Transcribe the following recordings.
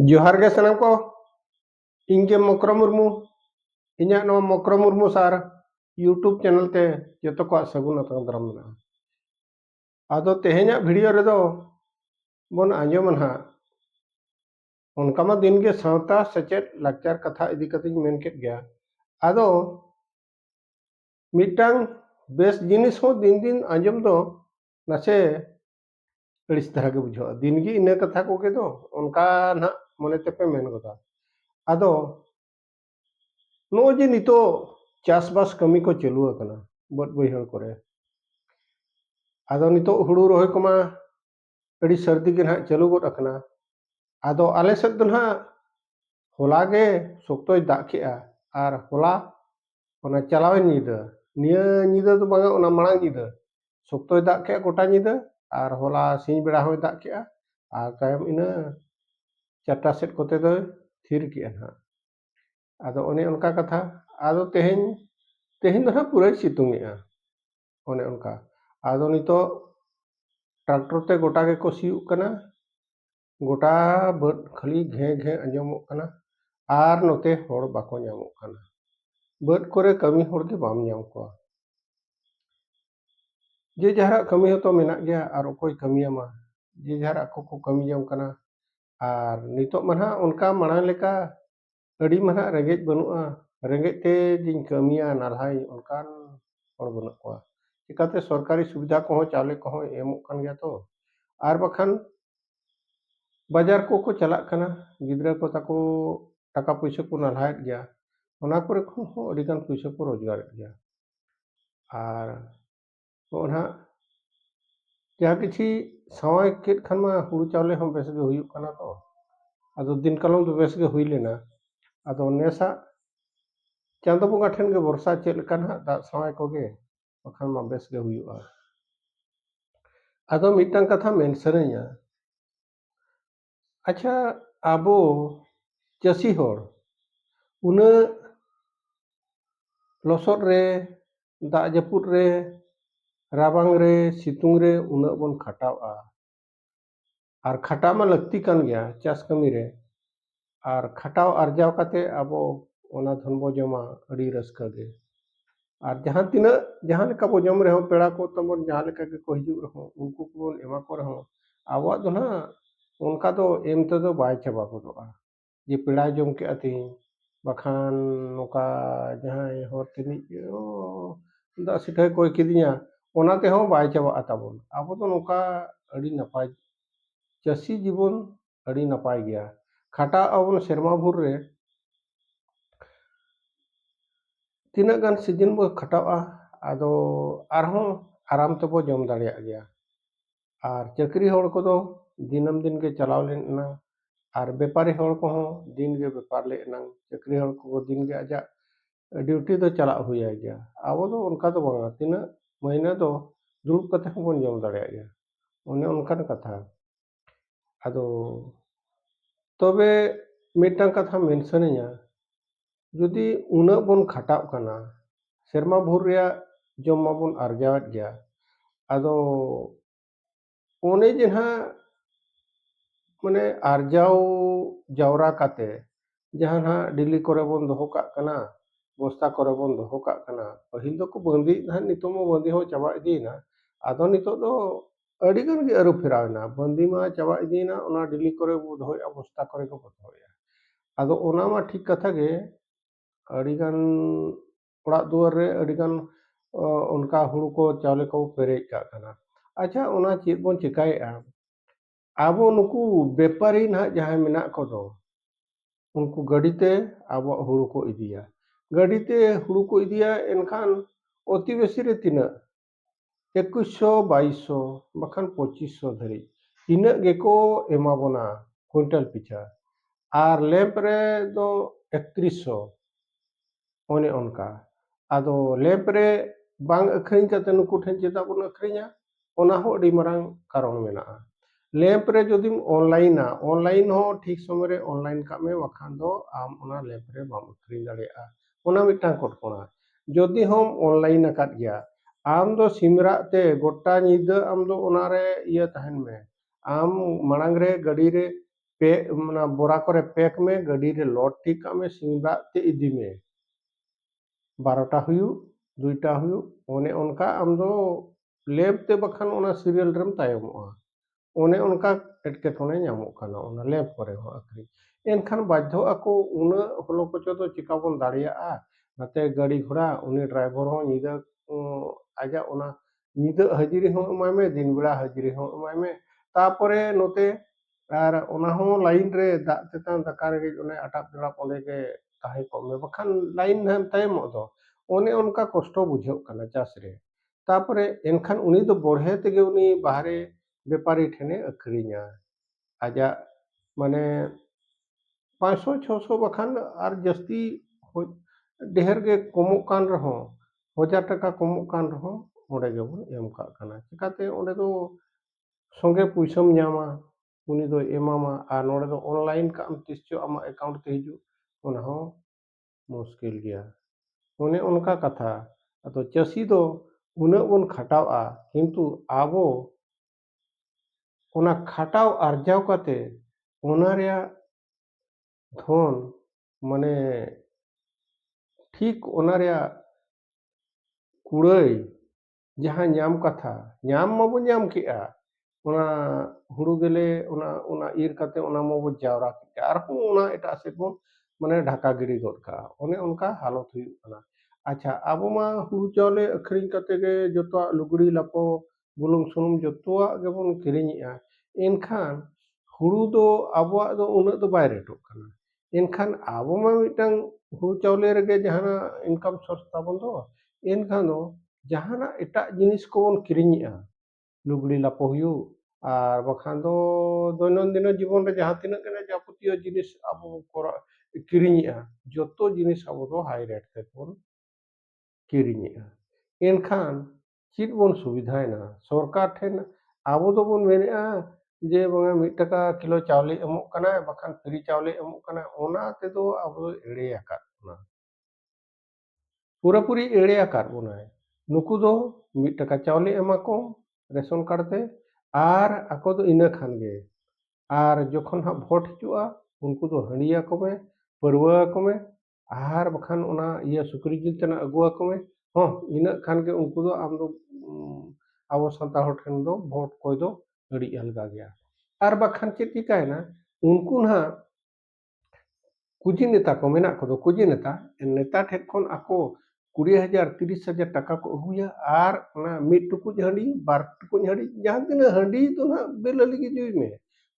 ᱡᱚᱦᱟᱨ ᱜᱮ ᱥᱟᱱᱟᱢ ᱠᱚ ᱤᱧ ᱜᱮ ᱢᱚᱠᱨᱚ ᱢᱩᱨᱢᱩ ᱤᱧᱟᱹᱜ ᱱᱚᱣᱟ ᱢᱚᱠᱨᱚ ᱢᱩᱨᱢᱩ ᱥᱟᱨ ᱤᱭᱩᱴᱩᱵᱽ ᱪᱮᱱᱮᱞ ᱛᱮ ᱡᱚᱛᱚ ᱠᱚᱣᱟᱜ ᱥᱟᱹᱜᱩᱱ ᱟᱛᱟᱝ ᱫᱟᱨᱟᱢ ᱢᱮᱱᱟᱜᱼᱟ ᱟᱫᱚ ᱛᱮᱦᱮᱧᱟᱜ ᱵᱷᱤᱰᱤᱭᱳ ᱨᱮᱫᱚ ᱵᱚᱱ ᱟᱸᱡᱚᱢᱟ ᱱᱟᱦᱟᱜ ᱚᱱᱠᱟ ᱢᱟ ᱫᱤᱱ ᱜᱮ ᱥᱟᱶᱛᱟ ᱥᱮᱪᱮᱫ ᱞᱟᱠᱪᱟᱨ ᱠᱟᱛᱷᱟ ᱤᱫᱤ ᱠᱟᱛᱮᱧ ᱢᱮᱱ ᱠᱮᱫ ᱜᱮᱭᱟ ᱟᱫᱚ ᱢᱤᱫᱴᱟᱝ ᱵᱮᱥ ᱡᱤᱱᱤᱥ ᱦᱚᱸ ᱫᱤᱱ ᱫᱤᱱ ᱟᱸᱡᱚᱢ ᱫᱚ ᱱᱟᱥᱮ ᱟᱹᱲᱤᱥ ᱫᱷᱟᱨᱟ ᱜᱮ ᱵᱩᱡᱷᱟᱹᱜᱼᱟ ᱫᱤᱱ ᱜᱮ ᱤᱱᱟᱹ ᱠᱟᱛᱷᱟ ᱠᱚᱜᱮ ᱫᱚ ᱚᱱᱠᱟ ᱱᱟᱦᱟᱜ ᱢᱚᱱᱮ ᱛᱮᱯᱮ ᱢᱮᱱ ᱜᱚᱫᱟ ᱟᱫᱚ ᱱᱚᱜᱼᱚᱭ ᱡᱮ ᱱᱤᱛᱚᱜ ᱪᱟᱥᱵᱟᱥ ᱠᱟᱹᱢᱤ ᱠᱚ ᱪᱟᱹᱞᱩ ᱟᱠᱟᱱᱟ ᱵᱟᱹᱫᱽ ᱵᱟᱹᱭᱦᱟᱹᱲ ᱠᱚᱨᱮ ᱟᱫᱚ ᱱᱤᱛᱚᱜ ᱦᱩᱲᱩ ᱨᱚᱦᱚᱭ ᱠᱚᱢᱟ ᱟᱹᱰᱤ ᱥᱟᱹᱨᱫᱤ ᱜᱮ ᱱᱟᱦᱟᱜ ᱪᱟᱹᱞᱩ ᱜᱚᱫ ᱟᱠᱟᱱᱟ ᱟᱫᱚ ᱟᱞᱮ ᱥᱮᱫ ᱫᱚ ᱱᱟᱦᱟᱜ ᱦᱚᱞᱟ ᱜᱮ ᱥᱚᱠᱛᱚᱭ ᱫᱟᱜ ᱠᱮᱜᱼᱟ ᱟᱨ ᱦᱚᱞᱟ ᱚᱱᱟ ᱪᱟᱞᱟᱣᱮᱱ ᱧᱤᱫᱟᱹ ᱱᱤᱭᱟᱹ ᱧᱤᱫᱟᱹ ᱫᱚ ᱵᱟᱝᱟ ᱚᱱᱟ ᱢᱟᱲᱟᱝ ᱧᱤᱫᱟᱹ ᱥᱚᱠᱛᱚᱭ ᱫᱟᱜ ᱠᱮᱜᱼᱟ ᱜᱚᱴᱟ ᱧᱤᱫᱟᱹ ᱟᱨ ᱦᱚᱞᱟ ᱥᱤᱧ ᱵᱮᱲᱟ ᱦᱚᱸᱭ ᱫᱟᱜ ᱠᱮᱜᱼᱟ ᱟᱨ ᱛᱟᱭᱚᱢ ᱤᱱᱟᱹ ᱪᱟᱨᱴᱟ ᱥᱮᱫ ᱠᱚᱛᱮ ᱫᱚᱭ ᱛᱷᱤᱨ ᱠᱮᱜᱼᱟ ᱱᱟᱦᱟᱜ ᱟᱫᱚ ᱚᱱᱮ ᱚᱱᱠᱟ ᱠᱟᱛᱷᱟ ᱟᱫᱚ ᱛᱮᱦᱮᱧ ᱛᱮᱦᱮᱧ ᱫᱚ ᱱᱟᱦᱟᱜ ᱯᱩᱨᱟᱹᱭ ᱥᱤᱛᱩᱝ ᱮᱜᱼᱟ ᱚᱱᱮ ᱚᱱᱠᱟ ᱟᱫᱚ ᱱᱤᱛᱚᱜ ᱴᱨᱟᱠᱴᱚᱨ ᱛᱮ ᱜᱚᱴᱟ ᱜᱮᱠᱚ ᱥᱤᱭᱳᱜ ᱠᱟᱱᱟ ᱜᱚᱴᱟ ᱵᱟᱹᱫᱽ ᱠᱷᱟᱹᱞᱤ ᱜᱷᱮᱸ ᱜᱷᱮᱸ ᱟᱸᱡᱚᱢᱚᱜ ᱠᱟᱱᱟ ᱟᱨ ᱱᱚᱛᱮ ᱦᱚᱲ ᱵᱟᱠᱚ ᱧᱟᱢᱚᱜ ᱠᱟᱱᱟ ᱵᱟᱹᱫᱽ ᱠᱚᱨᱮ ᱠᱟᱹᱢᱤ ᱦᱚᱲ ᱜᱮ ᱵᱟᱢ ᱧᱟᱢ ᱠᱚᱣᱟ ᱡᱮ ᱡᱟᱦᱟᱨᱟᱜ ᱠᱟᱹᱢᱤ ᱦᱚᱸᱛᱚ ᱢᱮᱱᱟᱜ ᱜᱮᱭᱟ ᱟᱨ ᱚᱠᱚᱭ ᱠᱟᱹᱢᱤᱭᱟᱢᱟ ᱡᱮ ᱡᱟᱦᱟᱨ ᱟᱠᱚ ᱠᱚ ᱠᱟᱹᱢᱤ ᱡᱚᱝ ᱠᱟᱱᱟ ᱟᱨ ᱱᱤᱛᱚᱜ ᱢᱟ ᱱᱟᱦᱟᱜ ᱚᱱᱠᱟ ᱢᱟᱲᱟᱝ ᱞᱮᱠᱟ ᱟᱹᱰᱤ ᱢᱟᱨᱟᱜ ᱨᱮᱸᱜᱮᱡ ᱵᱟᱹᱱᱩᱜᱼᱟ ᱨᱮᱸᱜᱮᱡ ᱛᱮ ᱡᱮᱧ ᱠᱟᱹᱢᱤᱭᱟ ᱱᱟᱞᱦᱟᱭ ᱚᱱᱠᱟᱱ ᱦᱚᱲ ᱵᱟᱹᱱᱩᱜ ᱠᱚᱣᱟ ᱪᱤᱠᱟᱹᱛᱮ ᱥᱚᱨᱠᱟᱨᱤ ᱥᱩᱵᱤᱫᱷᱟ ᱠᱚᱦᱚᱸ ᱪᱟᱣᱞᱮ ᱠᱚᱦᱚᱸ ᱮᱢᱚᱜ ᱠᱟᱱ ᱜᱮᱭᱟ ᱛᱚ ᱟᱨ ᱵᱟᱠᱷᱟᱱ ᱵᱟᱡᱟᱨ ᱠᱚᱠᱚ ᱪᱟᱞᱟᱜ ᱠᱟᱱᱟ ᱜᱤᱫᱽᱨᱟᱹ ᱠᱚ ᱛᱟᱠᱚ ᱴᱟᱠᱟ ᱯᱩᱭᱥᱟᱹ ᱠᱚ ᱱᱟᱞᱦᱟᱭᱮᱫ ᱜᱮᱭᱟ ᱚᱱᱟ ᱠᱚᱨᱮ ᱠᱷᱚᱱ ᱦᱚᱸ ᱟᱹᱰᱤ ᱜᱟᱱ ᱯᱩᱭᱥᱟᱹ ᱠᱚ ᱨᱚᱡᱽᱜᱟᱨᱮᱫ ᱜᱮᱭᱟ ᱟᱨ ᱱᱚᱜᱼᱚ ᱱᱟᱦᱟᱜ ᱡᱟᱦᱟᱸ ᱠᱤᱪᱷᱤ ᱥᱟᱶᱟᱭ ᱠᱮᱫ ᱠᱷᱟᱱ ᱢᱟ ᱦᱩᱲᱩ ᱪᱟᱣᱞᱮ ᱦᱚᱸ ᱵᱮᱥ ᱜᱮ ᱦᱩᱭᱩᱜ ᱠᱟᱱᱟ ᱛᱚ ᱟᱫᱚ ᱫᱤᱱ ᱠᱟᱞᱚᱢ ᱫᱚ ᱵᱮᱥ ᱜᱮ ᱦᱩᱭ ᱞᱮᱱᱟ ᱟᱫᱚ ᱱᱮᱥᱟᱜ ᱪᱟᱸᱫᱚ ᱵᱚᱸᱜᱟ ᱴᱷᱮᱱ ᱜᱮ ᱵᱷᱚᱨᱥᱟ ᱪᱮᱫ ᱞᱮᱠᱟ ᱱᱟᱦᱟᱜ ᱫᱟᱜ ᱥᱟᱶᱟᱭ ᱠᱚᱜᱮ ᱵᱟᱠᱷᱟᱱ ᱢᱟ ᱵᱮᱥ ᱜᱮ ᱦᱩᱭᱩᱜᱼᱟ ᱟᱫᱚ ᱢᱤᱫᱴᱟᱝ ᱠᱟᱛᱷᱟ ᱢᱮᱱ ᱥᱟᱱᱟᱹᱧᱟ ᱟᱪᱪᱷᱟ ᱟᱵᱚ ᱪᱟᱹᱥᱤ ᱦᱚᱲ ᱩᱱᱟᱹᱜ ᱞᱚᱥᱚᱫ ᱨᱮ ᱫᱟᱜ ᱡᱟᱹᱯᱩᱫ ᱨᱮ ᱨᱟᱵᱟᱝ ᱨᱮ ᱥᱤᱛᱩᱝ ᱨᱮ ᱩᱱᱟᱹᱜ ᱵᱚᱱ ᱠᱷᱟᱴᱟᱜᱼᱟ ᱟᱨ ᱠᱷᱟᱴᱟᱜ ᱢᱟ ᱞᱟᱹᱠᱛᱤ ᱠᱟᱱ ᱜᱮᱭᱟ ᱪᱟᱥ ᱠᱟᱹᱢᱤ ᱨᱮ ᱟᱨ ᱠᱷᱟᱴᱟᱣ ᱟᱨᱡᱟᱣ ᱠᱟᱛᱮ ᱟᱵᱚ ᱚᱱᱟ ᱫᱷᱚᱱ ᱵᱚ ᱡᱚᱢᱟ ᱟᱹᱰᱤ ᱨᱟᱹᱥᱠᱟᱹ ᱜᱮ ᱟᱨ ᱡᱟᱦᱟᱸ ᱛᱤᱱᱟᱹᱜ ᱡᱟᱦᱟᱸ ᱞᱮᱠᱟ ᱵᱚᱱ ᱡᱚᱢ ᱨᱮᱦᱚᱸ ᱯᱮᱲᱟ ᱠᱚ ᱛᱟᱵᱚᱱ ᱡᱟᱦᱟᱸ ᱞᱮᱠᱟ ᱜᱮᱠᱚ ᱦᱤᱡᱩᱜ ᱨᱮᱦᱚᱸ ᱩᱱᱠᱩ ᱠᱚᱵᱚᱱ ᱮᱢᱟ ᱠᱚ ᱨᱮᱦᱚᱸ ᱟᱵᱚᱣᱟᱜ ᱫᱚ ᱱᱟᱜ ᱚᱱᱠᱟ ᱫᱚ ᱮᱢ ᱛᱮᱫᱚ ᱵᱟᱭ ᱪᱟᱵᱟ ᱜᱚᱫᱚᱜᱼᱟ ᱡᱮ ᱯᱮᱲᱟᱭ ᱡᱚᱢ ᱠᱮᱜᱼᱟ ᱛᱤᱦᱤᱧ ᱵᱟᱠᱷᱟᱱ ᱱᱚᱝᱠᱟ ᱡᱟᱦᱟᱸᱭ ᱦᱚᱲ ᱛᱟᱹᱱᱤᱡ ᱫᱟᱜ ᱥᱤᱫᱷᱟᱹᱭ ᱠᱚᱭ ᱠᱤᱫᱤᱧᱟ ᱚᱱᱟ ᱛᱮᱦᱚᱸ ᱵᱟᱭ ᱪᱟᱵᱟᱜᱼᱟ ᱛᱟᱵᱚᱱ ᱟᱵᱚ ᱫᱚ ᱱᱚᱝᱠᱟ ᱟᱹᱰᱤ ᱱᱟᱯᱟᱭ ᱪᱟᱹᱥᱤ ᱡᱤᱵᱚᱱ ᱟᱹᱰᱤ ᱱᱟᱯᱟᱭ ᱜᱮᱭᱟ ᱠᱷᱟᱴᱟᱜ ᱟᱵᱚᱱ ᱥᱮᱨᱢᱟ ᱵᱷᱳᱨ ᱨᱮ ᱛᱤᱱᱟᱹᱜ ᱜᱟᱱ ᱥᱤᱡᱤᱱ ᱵᱚ ᱠᱷᱟᱴᱟᱜᱼᱟ ᱟᱫᱚ ᱟᱨᱦᱚᱸ ᱟᱨᱟᱢ ᱛᱮᱵᱚ ᱡᱚᱢ ᱫᱟᱲᱮᱭᱟᱜ ᱜᱮᱭᱟ ᱟᱨ ᱪᱟᱹᱠᱨᱤ ᱦᱚᱲ ᱠᱚᱫᱚ ᱫᱤᱱᱟᱹᱢ ᱫᱤᱱ ᱜᱮ ᱪᱟᱞᱟᱣ ᱞᱮᱱ ᱮᱱᱟᱝ ᱟᱨ ᱵᱮᱯᱟᱨᱤ ᱦᱚᱲ ᱠᱚᱦᱚᱸ ᱫᱤᱱ ᱜᱮ ᱵᱮᱯᱟᱨ ᱞᱮ ᱮᱱᱟᱝ ᱪᱟᱹᱠᱨᱤ ᱦᱚᱲ ᱠᱚᱦᱚᱸ ᱫᱤᱱ ᱜᱮ ᱟᱡᱟᱜ ᱰᱤᱭᱩᱴᱤ ᱫᱚ ᱪᱟᱞᱟᱜ ᱦᱩᱭ ᱟᱭ ᱜᱮᱭᱟ ᱟᱵᱚ ᱫᱚ ᱚᱱᱠᱟ ᱫᱚ ᱵᱟᱝᱟ ᱛᱤᱱᱟᱹᱜ ᱢᱟᱹᱦᱱᱟᱹ ᱫᱚ ᱫᱩᱲᱩᱵ ᱠᱟᱛᱮ ᱦᱚᱸᱵᱚᱱ ᱡᱚᱢ ᱫᱟᱲᱮᱭᱟᱜ ᱜᱮᱭᱟ ᱚᱱᱮ ᱚᱱᱠᱟᱱ ᱠᱟᱛᱷᱟ ᱟᱫᱚ ᱛᱚᱵᱮ ᱢᱤᱫᱴᱟᱝ ᱠᱟᱛᱷᱟ ᱢᱮᱱ ᱥᱟᱱᱟᱧᱟ ᱡᱩᱫᱤ ᱩᱱᱟᱹᱜ ᱵᱚᱱ ᱠᱷᱟᱴᱟᱜ ᱠᱟᱱᱟ ᱥᱮᱨᱢᱟ ᱵᱷᱳᱨ ᱨᱮᱭᱟᱜ ᱡᱚᱢ ᱢᱟᱵᱚᱱ ᱟᱨᱡᱟᱣᱮᱫ ᱜᱮᱭᱟ ᱟᱫᱚ ᱚᱱᱮ ᱡᱮ ᱦᱟᱸᱜ ᱢᱟᱱᱮ ᱟᱨᱡᱟᱣ ᱡᱟᱣᱨᱟ ᱠᱟᱛᱮ ᱡᱟᱦᱟᱸ ᱱᱟᱦᱟᱜ ᱰᱮᱞᱤ ᱠᱚᱨᱮ ᱵᱚᱱ ᱫᱚᱦᱚ ᱠᱟᱜ ᱠᱟᱱᱟ ᱵᱚᱥᱛᱟ ᱠᱚᱨᱮ ᱵᱚᱱ ᱫᱚᱦᱚ ᱠᱟᱜ ᱠᱟᱱᱟ ᱯᱟᱹᱦᱤᱞ ᱫᱚᱠᱚ ᱵᱟᱺᱫᱤᱭᱮᱫ ᱛᱟᱦᱮᱸᱫ ᱱᱤᱛᱚᱝ ᱢᱟ ᱵᱟᱺᱫᱤ ᱦᱚᱸ ᱪᱟᱵᱟ ᱤᱫᱤᱭᱮᱱᱟ ᱟᱫᱚ ᱱᱤᱛᱚᱜ ᱫᱚ ᱟᱹᱰᱤ ᱜᱟᱱ ᱜᱮ ᱟᱹᱨᱩ ᱯᱷᱮᱨᱟᱣ ᱮᱱᱟ ᱵᱟᱺᱫᱤ ᱢᱟ ᱪᱟᱵᱟ ᱤᱫᱤᱭᱮᱱᱟ ᱚᱱᱟ ᱰᱮᱞᱤ ᱠᱚᱨᱮ ᱵᱚ ᱫᱚᱦᱚᱭᱮᱜᱼᱟ ᱵᱚᱥᱛᱟ ᱠᱚᱨᱮ ᱜᱮᱵᱚ ᱫᱚᱦᱚᱭᱮᱜᱼᱟ ᱟᱫᱚ ᱚᱱᱟ ᱢᱟ ᱴᱷᱤᱠ ᱠᱟᱛᱷᱟ ᱜᱮ ᱟᱹᱰᱤ ᱜᱟᱱ ᱚᱲᱟᱜ ᱫᱩᱣᱟᱹᱨ ᱨᱮ ᱟᱹᱰᱤ ᱜᱟᱱ ᱚᱱᱠᱟ ᱦᱩᱲᱩ ᱠᱚ ᱪᱟᱣᱞᱮ ᱠᱚ ᱯᱮᱨᱮᱡ ᱠᱟᱜ ᱠᱟᱱᱟ ᱟᱪᱪᱷᱟ ᱚᱱᱟ ᱪᱮᱫ ᱵᱚᱱ ᱪᱮᱠᱟᱭᱮᱜᱼᱟ ᱟᱵᱚ ᱱᱩᱠᱩ ᱵᱮᱯᱟᱨᱤ ᱱᱟᱦᱟᱜ ᱡᱟᱦᱟᱸᱭ ᱢᱮᱱᱟᱜ ᱠᱚᱫᱚ ᱩᱱᱠᱩ ᱜᱟᱹᱰᱤᱛᱮ ᱟᱵᱚᱣᱟᱜ ᱦᱩᱲᱩ ᱠᱚ ᱤᱫᱤᱭᱟ ᱜᱟᱹᱰᱤᱛᱮ ᱦᱩᱲᱩ ᱠᱚ ᱤᱫᱤᱭᱟ ᱮᱱᱠᱷᱟᱱ ᱚᱛᱤ ᱵᱮᱥᱤ ᱨᱮ ᱛᱤᱱᱟᱹᱜ ᱮᱠᱩᱥᱥᱚ ᱵᱟᱭᱤᱥᱥᱚ ᱵᱟᱠᱷᱟᱱ ᱯᱚᱸᱪᱤᱥᱥᱚ ᱫᱷᱟᱹᱨᱤᱡ ᱤᱱᱟᱹᱜ ᱜᱮᱠᱚ ᱮᱢᱟ ᱵᱚᱱᱟ ᱠᱩᱭᱤᱱᱴᱟᱞ ᱯᱤᱪᱷᱟ ᱟᱨ ᱞᱮᱢᱯ ᱨᱮᱫᱚ ᱮᱠᱛᱨᱤᱥᱥᱚ ᱚᱱᱮ ᱚᱱᱠᱟ ᱟᱫᱚ ᱞᱮᱵ ᱨᱮ ᱵᱟᱝ ᱟᱹᱠᱷᱨᱤᱧ ᱠᱟᱛᱮ ᱱᱩᱠᱩ ᱴᱷᱮᱱ ᱪᱮᱫᱟᱜ ᱵᱚᱱ ᱟᱹᱠᱷᱨᱤᱧᱟ ᱚᱱᱟ ᱦᱚᱸ ᱟᱹᱰᱤ ᱢᱟᱨᱟᱝ ᱠᱟᱨᱚᱱ ᱢᱮᱱᱟᱜᱼᱟ ᱞᱮᱵ ᱨᱮ ᱡᱩᱫᱤᱢ ᱚᱱᱞᱟᱭᱤᱱᱟ ᱚᱱᱞᱟᱭᱤᱱ ᱦᱚᱸ ᱴᱷᱤᱠ ᱥᱚᱢᱚᱭ ᱨᱮ ᱚᱱᱞᱟᱭᱤᱱ ᱠᱟᱜ ᱢᱮ ᱵᱟᱠᱷᱟᱱ ᱫᱚ ᱟᱢ ᱚᱱᱟ ᱞᱮᱵ ᱨᱮ ᱵᱟᱢ ᱟᱹᱠᱷᱨᱤᱧ ᱫᱟᱲᱮᱭᱟᱜᱼᱟ ᱚᱱᱟ ᱢᱤᱫᱴᱟᱝ ᱠᱚᱴᱠᱚᱬᱟ ᱡᱩᱫᱤ ᱦᱚᱸ ᱚᱱᱞᱟᱭᱤᱱ ᱟᱠᱟᱫ ᱜᱮᱭᱟ ᱟᱢ ᱫᱚ ᱥᱤᱢᱨᱟᱜ ᱛᱮ ᱜᱚᱴᱟ ᱧᱤᱫᱟᱹ ᱟᱢ ᱫᱚ ᱚᱱᱟᱨᱮ ᱤᱭᱟᱹ ᱛᱟᱦᱮᱱ ᱢᱮ ᱟᱢ ᱢᱟᱲᱟᱝ ᱨᱮ ᱜᱟᱹᱰᱤ ᱨᱮ ᱯᱮ ᱚᱱᱟ ᱵᱚᱨᱟ ᱠᱚᱨᱮ ᱯᱮᱠ ᱢᱮ ᱜᱟᱹᱰᱤ ᱨᱮ ᱞᱚᱰ ᱴᱷᱤᱠ ᱠᱟᱜ ᱢᱮ ᱥᱤᱧ ᱫᱟᱜ ᱛᱮ ᱤᱫᱤ ᱢᱮ ᱵᱟᱨᱚᱴᱟ ᱦᱩᱭᱩᱜ ᱫᱩᱭᱴᱟ ᱦᱩᱭᱩᱜ ᱚᱱᱮ ᱚᱱᱠᱟ ᱟᱢ ᱫᱚ ᱞᱮᱵ ᱛᱮ ᱵᱟᱠᱷᱟᱱ ᱚᱱᱟ ᱥᱤᱨᱤᱭᱟᱞ ᱨᱮᱢ ᱛᱟᱭᱚᱢᱚᱜᱼᱟ ᱚᱱᱮ ᱚᱱᱠᱟ ᱮᱴᱠᱮᱴᱚᱬᱮ ᱧᱟᱢᱚᱜ ᱠᱟᱱᱟ ᱚᱱᱟ ᱞᱮᱵ ᱠᱚᱨᱮ ᱦᱚᱸ ᱟᱹᱠᱷᱨᱤᱧ ᱮᱱᱠᱷᱟᱱ ᱵᱟᱫᱽᱫᱷᱚᱜ ᱟᱠᱚ ᱩᱱᱟᱹᱜ ᱦᱚᱞᱚ ᱠᱚᱪᱚ ᱫᱚ ᱪᱮᱠᱟ ᱵᱚᱱ ᱫᱟᱲᱮᱭᱟᱜᱼᱟ ᱱᱟᱛᱮ ᱜᱟᱹᱰᱤ ᱜᱷᱚᱲᱟ ᱩᱱᱤ ᱰᱨᱟᱭᱵᱷᱚᱨ ᱦᱚᱸ ᱧᱤᱫᱟᱹ ᱟᱡᱟᱜ ᱚᱱᱟ ᱧᱤᱫᱟᱹ ᱦᱟᱹᱡᱨᱤ ᱦᱚᱸ ᱮᱢᱟᱭ ᱢᱮ ᱫᱤᱱ ᱵᱮᱲᱟ ᱦᱟᱹᱡᱨᱤ ᱦᱚᱸ ᱮᱢᱟᱭ ᱢᱮ ᱛᱟᱯᱚᱨᱮ ᱱᱚᱛᱮ ᱟᱨ ᱚᱱᱟ ᱦᱚᱸ ᱞᱟᱭᱤᱱ ᱨᱮ ᱫᱟᱜ ᱛᱮᱛᱟᱝ ᱫᱟᱠᱟ ᱨᱮᱸᱜᱮᱡ ᱚᱱᱮ ᱟᱴᱟᱯ ᱡᱚᱲᱟᱯ ᱚᱸᱰᱮ ᱜᱮ ᱛᱟᱦᱮᱸ ᱠᱚᱜ ᱢᱮ ᱵᱟᱠᱷᱟᱱ ᱞᱟᱭᱤᱱ ᱱᱟᱦᱮᱢ ᱛᱟᱭᱚᱢᱚᱜ ᱫᱚ ᱚᱱᱮ ᱚᱱᱠᱟ ᱠᱚᱥᱴᱚ ᱵᱩᱡᱷᱟᱹᱜ ᱠᱟᱱᱟ ᱪᱟᱥ ᱨᱮ ᱛᱟᱯᱚᱨᱮ ᱮᱱᱠᱷᱟᱱ ᱩᱱᱤ ᱫᱚ ᱵᱚᱲᱦᱮ ᱛᱮᱜᱮ ᱩᱱᱤ ᱵᱟᱦᱨᱮ ᱵᱮᱯᱟᱨᱤ ᱴᱷᱮᱱᱮ ᱟᱹᱠᱷᱨᱤᱧᱟ ᱟᱡᱟᱜ ᱢᱟᱱᱮ ᱯᱟᱸᱪᱥᱚ ᱪᱷᱚᱥᱚ ᱵᱟᱠᱷᱟᱱ ᱟᱨ ᱡᱟᱹᱥᱛᱤ ᱦᱳᱭ ᱰᱷᱮᱨ ᱜᱮ ᱠᱚᱢᱚᱜ ᱠᱟᱱ ᱨᱮᱦᱚᱸ ᱦᱟᱡᱟᱨ ᱴᱟᱠᱟ ᱠᱚᱢᱚᱜ ᱠᱟᱱ ᱨᱮᱦᱚᱸ ᱚᱸᱰᱮ ᱜᱮᱵᱚᱱ ᱮᱢ ᱠᱟᱜ ᱠᱟᱱᱟ ᱪᱤᱠᱟᱹᱛᱮ ᱚᱸᱰᱮ ᱫᱚ ᱥᱚᱸᱜᱮ ᱯᱩᱭᱥᱟᱹᱢ ᱧᱟᱢᱟ ᱩᱱᱤ ᱫᱚᱭ ᱮᱢᱟᱢᱟ ᱟᱨ ᱱᱚᱰᱮ ᱫᱚ ᱚᱱᱞᱟᱭᱤᱱ ᱠᱟᱜ ᱟᱢ ᱛᱤᱥ ᱪᱚ ᱟᱢᱟᱜ ᱮᱠᱟᱣᱩᱱᱴ ᱛᱮ ᱦᱤᱡᱩᱜ ᱚᱱᱟ ᱦᱚᱸ ᱢᱩᱥᱠᱤᱞ ᱜᱮᱭᱟ ᱚᱱᱮ ᱚᱱᱠᱟ ᱠᱟᱛᱷᱟ ᱟᱫᱚ ᱪᱟᱹᱥᱤ ᱫᱚ ᱩᱱᱟᱹᱜ ᱵᱚᱱ ᱠᱷᱟᱴᱟᱣᱜᱼᱟ ᱠᱤᱱᱛᱩ ᱟᱵᱚ ᱚᱱᱟ ᱠᱷᱟᱴᱟᱣ ᱟᱨᱡᱟᱣ ᱠᱟᱛᱮ ᱚᱱᱟ ᱨᱮᱭᱟᱜ ᱫᱷᱚᱱ ᱢᱟᱱᱮ ᱴᱷᱤᱠ ᱚᱱᱟ ᱨᱮᱭᱟᱜ ᱠᱩᱲᱟᱹᱭ ᱡᱟᱦᱟᱸ ᱧᱟᱢ ᱠᱟᱛᱷᱟ ᱧᱟᱢ ᱢᱟᱵᱚ ᱧᱟᱢ ᱠᱮᱜᱼᱟ ᱚᱱᱟ ᱦᱩᱲᱩ ᱜᱮᱞᱮ ᱚᱱᱟ ᱚᱱᱟ ᱤᱨ ᱠᱟᱛᱮ ᱚᱱᱟ ᱢᱟᱵᱚ ᱡᱟᱣᱨᱟ ᱠᱮᱜᱼᱟ ᱟᱨᱦᱚᱸ ᱚᱱᱟ ᱮᱴᱟᱜ ᱥᱮᱫ ᱵᱚᱱ ᱢᱟᱱᱮ ᱰᱷᱟᱠᱟ ᱜᱤᱰᱤ ᱜᱚᱫ ᱠᱟᱜᱼᱟ ᱚᱱᱮ ᱚᱱᱠᱟ ᱦᱟᱞᱚᱛ ᱦᱩᱭᱩᱜ ᱠᱟᱱᱟ ᱟᱪᱪᱷᱟ ᱟᱵᱚ ᱢᱟ ᱦᱩᱲᱩ ᱪᱟᱣᱞᱮ ᱟᱹᱠᱷᱨᱤᱧ ᱠᱟᱛᱮ ᱜᱮ ᱡᱚᱛᱚᱣᱟᱜ ᱞᱩᱜᱽᱲᱤ ᱞᱟᱯᱚ ᱵᱩᱞᱩᱝ ᱥᱩᱱᱩᱢ ᱡᱚᱛᱚᱣᱟᱜ ᱜᱮᱵᱚᱱ ᱠᱤᱨᱤᱧᱮᱜᱼᱟ ᱮᱱᱠᱷᱟᱱ ᱦᱩᱲᱩ ᱫᱚ ᱟᱵᱚᱣᱟᱜ ᱫᱚ ᱩᱱᱟᱹᱜ ᱫᱚ ᱵᱟᱭ ᱨᱮᱴᱚᱜ ᱠᱟᱱᱟ ᱮᱱᱠᱷᱟᱱ ᱟᱵᱚ ᱢᱟ ᱢᱤᱫᱴᱟᱝ ᱦᱩᱲᱩ ᱪᱟᱣᱞᱮ ᱨᱮᱜᱮ ᱡᱟᱦᱟᱱᱟᱜ ᱤᱱᱠᱟᱢ ᱥᱳᱨᱥ ᱛᱟᱵᱚᱱ ᱫᱚ ᱮᱱᱠᱷᱟᱱ ᱫᱚ ᱡᱟᱦᱟᱱᱟᱜ ᱮᱴᱟᱜ ᱡᱤᱱᱤᱥ ᱠᱚᱵᱚᱱ ᱠᱤᱨᱤᱧᱮᱜᱼᱟ ᱞᱩᱜᱽᱲᱤ ᱞᱟᱯᱚ ᱦᱩᱭᱩᱜ ᱟᱨ ᱵᱟᱠᱷᱟᱱ ᱫᱚ ᱫᱚᱭᱱᱚᱱ ᱫᱤᱱ ᱡᱤᱵᱚᱱ ᱨᱮ ᱡᱟᱦᱟᱸ ᱛᱤᱱᱟᱹᱜ ᱜᱮ ᱡᱟᱵᱚᱛᱤᱭᱚ ᱡᱤᱱᱤᱥ ᱟᱵᱚ ᱠᱚᱨᱟᱣ ᱠᱤᱨᱤᱧᱮᱜᱼᱟ ᱡᱚᱛᱚ ᱡᱤᱱᱤᱥ ᱟᱵᱚ ᱫᱚ ᱦᱟᱭ ᱨᱮᱴ ᱛᱮᱵᱚᱱ ᱠᱤᱨᱤᱧᱮᱜᱼᱟ ᱮᱱᱠᱷᱟᱱ ᱪᱮᱫ ᱵᱚᱱ ᱥᱩᱵᱤᱫᱷᱟᱭᱮᱱᱟ ᱥᱚᱨᱠᱟᱨ ᱴᱷᱮᱱ ᱟᱵᱚ ᱫᱚᱵᱚᱱ ᱢᱮᱱᱮᱜᱼᱟ ᱡᱮ ᱵᱟᱝᱟ ᱢᱤᱫ ᱴᱟᱠᱟ ᱠᱤᱞᱳ ᱪᱟᱣᱞᱮ ᱮᱢᱚᱜ ᱠᱟᱱᱟᱭ ᱵᱟᱠᱷᱟᱱ ᱯᱷᱨᱤ ᱪᱟᱣᱞᱮ ᱮᱢᱚᱜ ᱠᱟᱱᱟᱭ ᱚᱱᱟ ᱛᱮᱫᱚ ᱟᱵᱚ ᱮᱲᱮ ᱟᱠᱟᱫ ᱵᱚᱱᱟ ᱯᱩᱨᱟᱹᱯᱩᱨᱤ ᱮᱲᱮ ᱟᱠᱟᱫ ᱵᱚᱱᱟᱭ ᱱᱩᱠᱩ ᱫᱚ ᱢᱤᱫ ᱴᱟᱠᱟ ᱪᱟᱣᱞᱮ ᱮᱢᱟ ᱠᱚ ᱨᱮᱥᱚᱱ ᱠᱟᱨᱰ ᱛᱮ ᱟᱨ ᱟᱠᱚ ᱫᱚ ᱤᱱᱟᱹ ᱠᱷᱟᱱ ᱜᱮ ᱟᱨ ᱡᱚᱠᱷᱚᱱ ᱦᱟᱸᱜ ᱵᱷᱳᱴ ᱦᱤᱡᱩᱜᱼᱟ ᱩᱱᱠᱩ ᱫᱚ ᱦᱟᱺᱰᱤ ᱟᱠᱚ ᱢᱮ ᱯᱟᱹᱨᱣᱟᱹ ᱟᱠᱚ ᱢᱮ ᱟᱨ ᱵᱟᱠᱷᱟᱱ ᱚᱱᱟ ᱤᱭᱟᱹ ᱥᱩᱠᱨᱤ ᱡᱤᱞ ᱛᱮᱱᱟᱜ ᱟᱹᱜᱩ ᱟᱠᱚ ᱢᱮ ᱦᱚᱸ ᱤᱱᱟᱹᱜ ᱠᱷᱟᱱ ᱜᱮ ᱩᱱᱠᱩ ᱫᱚ ᱟᱢ ᱫᱚ ᱟᱵᱚ ᱥᱟᱱᱛᱟᱲ ᱦᱚᱲ ᱴᱷᱮᱱ ᱫᱚ ᱵᱷᱳᱴ ᱠᱚᱭ ᱫᱚ ᱟᱹᱰᱤ ᱟᱞᱜᱟ ᱜᱮᱭᱟ ᱟᱨ ᱵᱟᱠᱷᱟᱱ ᱪᱮᱫ ᱪᱤᱠᱟᱹᱭᱮᱱᱟ ᱩᱱᱠᱩ ᱱᱟᱦᱟᱜ ᱠᱩᱡᱤ ᱱᱮᱛᱟ ᱠᱚ ᱢᱮᱱᱟᱜ ᱠᱚᱫᱚ ᱠᱩᱡᱤ ᱱᱮᱛᱟ ᱱᱮᱛᱟ ᱴᱷᱮᱱ ᱠᱷᱚᱱ ᱟᱠᱚ ᱠᱩᱲᱤ ᱦᱟᱡᱟᱨ ᱛᱤᱨᱤᱥ ᱦᱟᱡᱟᱨ ᱴᱟᱠᱟ ᱠᱚ ᱟᱹᱜᱩᱭᱟ ᱟᱨ ᱚᱱᱟ ᱢᱤᱫ ᱴᱩᱠᱩᱡ ᱦᱟᱺᱰᱤ ᱵᱟᱨ ᱴᱩᱠᱩᱡ ᱦᱟᱺᱰᱤ ᱡᱟᱦᱟᱸ ᱛᱤᱱᱟᱹᱜ ᱦᱟᱺᱰᱤ ᱫᱚ ᱱᱟᱦᱟᱜ ᱵᱮᱞᱟᱹᱞᱤ ᱜᱮ ᱧᱩᱭ ᱢᱮ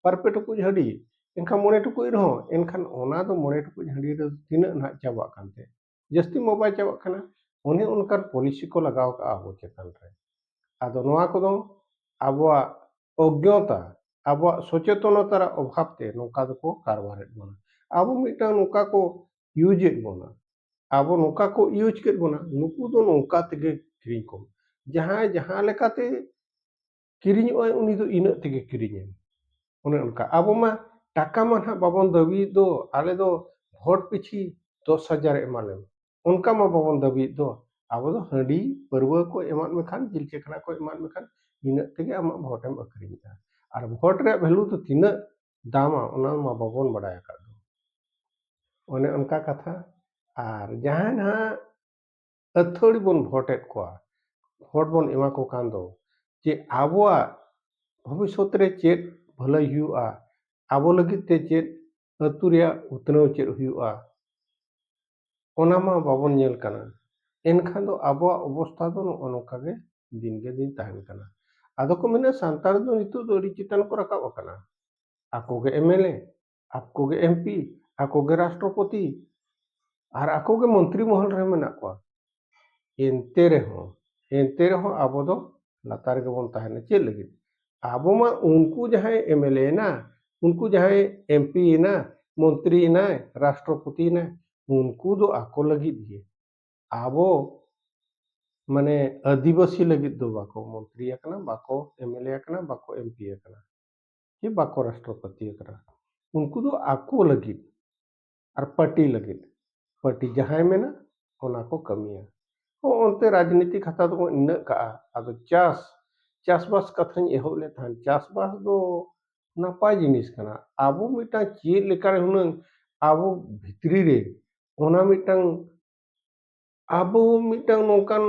ᱵᱟᱨ ᱯᱮ ᱴᱩᱠᱩᱡ ᱦᱟᱺᱰᱤ ᱮᱱᱠᱷᱟᱱ ᱢᱚᱬᱮ ᱴᱩᱠᱩᱡ ᱨᱮᱦᱚᱸ ᱮᱱᱠᱷᱟᱱ ᱚᱱᱟ ᱫᱚ ᱢᱚᱬᱮ ᱴᱩᱠᱩᱡ ᱦᱟᱺᱰᱤ ᱨᱮ ᱛᱤᱱᱟᱹᱜ ᱱᱟᱦᱟᱜ ᱪᱟᱵᱟᱜ ᱠᱟᱱ ᱛᱮ ᱡᱟᱹᱥᱛᱤ ᱢᱟ ᱵᱟᱭ ᱪᱟᱵᱟᱜ ᱠᱟᱱᱟ ᱚᱱᱮ ᱚᱱᱠᱟᱱ ᱯᱚᱞᱤᱥᱤ ᱠᱚ ᱞᱟᱜᱟᱣ ᱠᱟᱜᱼᱟ ᱟᱵᱚ ᱪᱮᱛᱟᱱ ᱨᱮ ᱟᱫᱚ ᱱᱚᱣᱟ ᱠᱚᱫᱚ ᱟᱵᱚᱣᱟᱜ ᱚᱜᱽᱜᱚᱛᱟ ᱟᱵᱚᱣᱟᱜ ᱥᱚᱪᱮᱛᱚᱱᱚᱛᱟ ᱨᱮ ᱚᱵᱷᱟᱵᱽ ᱛᱮ ᱱᱚᱝᱠᱟ ᱫᱚᱠᱚ ᱠᱟᱨᱵᱟᱨᱮᱫ ᱵᱚᱱᱟ ᱟᱵᱚ ᱢᱤᱫᱴᱟᱝ ᱱᱚᱝᱠᱟ ᱠᱚ ᱤᱭᱩᱡᱮᱫ ᱵᱚᱱᱟ ᱟᱵᱚ ᱱᱚᱝᱠᱟ ᱠᱚ ᱤᱭᱩᱡᱽ ᱠᱮᱫ ᱵᱚᱱᱟ ᱱᱩᱠᱩ ᱫᱚ ᱱᱚᱝᱠᱟ ᱛᱮᱜᱮ ᱠᱤᱨᱤᱧ ᱠᱚᱢ ᱡᱟᱦᱟᱸᱭ ᱡᱟᱦᱟᱸ ᱞᱮᱠᱟᱛᱮ ᱠᱤᱨᱤᱧᱚᱜᱼᱟᱭ ᱩᱱᱤ ᱫᱚ ᱤᱱᱟᱹᱜ ᱛᱮᱜᱮ ᱠᱤᱨᱤᱧᱟᱭ ᱚᱱᱮ ᱚᱱᱠᱟ ᱟᱵᱚ ᱢᱟ ᱴᱟᱠᱟ ᱢᱟ ᱱᱟᱦᱟᱜ ᱵᱟᱵᱚᱱ ᱫᱟᱹᱵᱤᱭᱮᱫ ᱫᱚ ᱟᱞᱮ ᱫᱚ ᱵᱷᱳᱴ ᱯᱤᱪᱷᱤ ᱫᱚᱥ ᱦᱟᱡᱟᱨ ᱮᱢᱟᱞᱮᱢ ᱚᱱᱠᱟ ᱢᱟ ᱵᱟᱵᱚᱱ ᱫᱟᱹᱵᱤᱭᱮᱫ ᱫᱚ ᱟᱵᱚ ᱫᱚ ᱦᱟᱺᱰᱤ ᱯᱟᱹᱨᱣᱟᱹ ᱠᱚ ᱮᱢᱟᱫ ᱢᱮᱠᱷᱟᱱ ᱡᱤᱞ ᱪᱟᱠᱷᱱᱟ ᱠᱚ ᱮᱢᱟᱫ ᱢᱮᱠᱷᱟᱱ ᱤᱱᱟᱹᱜ ᱛᱮᱜᱮ ᱟᱢᱟᱜ ᱵᱷᱳᱴᱮᱢ ᱟᱹᱠᱷᱨᱤᱧᱮᱫᱼᱟ ᱟᱨ ᱵᱷᱳᱴ ᱨᱮᱭᱟᱜ ᱵᱷᱮᱞᱩ ᱫᱚ ᱛᱤᱱᱟᱹᱜ ᱫᱟᱢᱟ ᱚᱱᱟ ᱢᱟ ᱵᱟᱵᱚᱱ ᱵᱟᱰᱟᱭ ᱟᱠᱟᱫ ᱫᱚ ᱚᱱᱮ ᱚᱱᱠᱟ ᱠᱟᱛᱷᱟ ᱟᱨ ᱡᱟᱦᱟᱸᱭ ᱱᱟᱦᱟᱜ ᱟᱹᱛᱷᱟᱹᱲᱤ ᱵᱚᱱ ᱵᱷᱳᱴᱮᱫ ᱠᱚᱣᱟ ᱵᱷᱳᱴ ᱵᱚᱱ ᱮᱢᱟ ᱠᱚ ᱠᱟᱱ ᱫᱚ ᱡᱮ ᱟᱵᱚᱣᱟᱜ ᱵᱷᱚᱵᱤᱥᱥᱚᱛ ᱨᱮ ᱪᱮᱫ ᱵᱷᱟᱹᱞᱟᱹᱭ ᱦᱩᱭᱩᱜᱼᱟ ᱟᱵᱚ ᱞᱟᱹᱜᱤᱫ ᱛᱮ ᱪᱮᱫ ᱟᱹᱛᱩ ᱨᱮᱭᱟᱜ ᱩᱛᱱᱟᱹᱣ ᱪᱮᱫ ᱦᱩᱭᱩᱜᱼᱟ ᱚᱱᱟ ᱢᱟ ᱵᱟᱵᱚᱱ ᱧᱮᱞ ᱠᱟᱱᱟ ᱮᱱᱠᱷᱟᱱ ᱫᱚ ᱟᱵᱚᱣᱟᱜ ᱚᱵᱚᱥᱛᱟ ᱫᱚ ᱱᱚᱜᱼᱚ ᱱᱚᱝᱠᱟ ᱜᱮ ᱫᱤᱱ ᱜᱮ ᱫᱤᱱ ᱛᱟᱦᱮᱱ ᱠᱟᱱᱟ ᱟᱫᱚ ᱠᱚ ᱢᱮᱱᱟ ᱥᱟᱱᱛᱟᱲ ᱫᱚ ᱱᱤᱛᱚᱜ ᱫᱚ ᱟᱹᱰᱤ ᱪᱮᱛᱟᱱ ᱠᱚ ᱨᱟᱠᱟᱵ ᱟᱠᱟᱱᱟ ᱟᱠᱚ ᱜᱮ ᱮᱢ ᱮᱞ ᱮ ᱟᱠᱚ ᱜᱮ ᱮᱢ ᱯᱤ ᱟᱠᱚ ᱜᱮ ᱨᱟᱥᱴᱨᱚᱯᱚᱛᱤ ᱟᱨ ᱟᱠᱚ ᱜᱮ ᱢᱚᱱᱛᱨᱤ ᱢᱚᱦᱚᱞ ᱨᱮ ᱢᱮᱱᱟᱜ ᱠᱚᱣᱟ ᱮᱱᱛᱮ ᱨᱮᱦᱚᱸ ᱮᱱᱛᱮ ᱨᱮᱦᱚᱸ ᱟᱵᱚ ᱫᱚ ᱞᱟᱛᱟᱨ ᱨᱮᱜᱮ ᱵᱚᱱ ᱛᱟᱦᱮᱱᱟ ᱪᱮᱫ ᱞᱟᱹᱜᱤᱫ ᱟᱵᱚ ᱢᱟ ᱩᱱᱠᱩ ᱡᱟᱦᱟᱸᱭ ᱮᱢᱮᱞᱮ ᱮᱱᱟ ᱩᱱᱠᱩ ᱡᱟᱦᱟᱸᱭ ᱮᱢ ᱯᱤ ᱮᱱᱟ ᱢᱚᱱᱛᱨᱤ ᱮᱱᱟᱭ ᱨᱟᱥᱴᱨᱚᱯᱚᱛᱤ ᱮᱱᱟᱭ ᱩᱱᱠᱩ ᱫᱚ ᱟᱠᱚ ᱞᱟᱹᱜᱤᱫ ᱜᱮ ᱟᱵᱚ ᱢᱟᱱᱮ ᱟᱹᱫᱤᱵᱟᱹᱥᱤ ᱞᱟᱹᱜᱤᱫ ᱫᱚ ᱵᱟᱠᱚ ᱢᱚᱱᱛᱨᱤ ᱟᱠᱟᱱᱟ ᱵᱟᱠᱚ ᱮᱢᱮᱞᱮ ᱟᱠᱟᱱᱟ ᱵᱟᱠᱚ ᱮᱢ ᱯᱤ ᱟᱠᱟᱱᱟ ᱡᱮ ᱵᱟᱠᱚ ᱨᱟᱥᱴᱨᱚᱯᱚᱛᱤ ᱟᱠᱟᱱᱟ ᱩᱱᱠᱩ ᱫᱚ ᱟᱠᱚ ᱞᱟᱹᱜᱤᱫ ᱟᱨ ᱯᱟᱨᱴᱤ ᱞᱟᱹᱜᱤᱫ ᱯᱟᱨᱴᱤ ᱡᱟᱦᱟᱸᱭ ᱢᱮᱱᱟ ᱚᱱᱟ ᱠᱚ ᱠᱟᱹᱢᱤᱭᱟ ᱚᱱᱛᱮ ᱨᱟᱡᱽᱱᱤᱛᱤ ᱠᱷᱟᱛᱟ ᱫᱚᱵᱚᱱ ᱤᱱᱟᱹᱜ ᱠᱟᱜᱼᱟ ᱟᱫᱚ ᱪᱟᱥ ᱪᱟᱥᱵᱟᱥ ᱠᱟᱛᱷᱟᱧ ᱮᱦᱚᱵ ᱞᱮᱫ ᱛᱟᱦᱮᱸᱫ ᱪᱟᱥᱵᱟᱥ ᱫᱚ ᱱᱟᱯᱟᱭ ᱡᱤᱱᱤᱥ ᱠᱟᱱᱟ ᱟᱵᱚ ᱢᱤᱫᱴᱟᱝ ᱪᱮᱫ ᱞᱮᱠᱟᱨᱮ ᱦᱩᱱᱟᱹᱝ ᱟᱵᱚ ᱵᱷᱤᱛᱨᱤ ᱨᱮ ᱚᱱᱟ ᱢᱤᱫᱴᱟᱝ ᱟᱵᱚ ᱢᱤᱫᱴᱟᱝ ᱱᱚᱝᱠᱟᱱ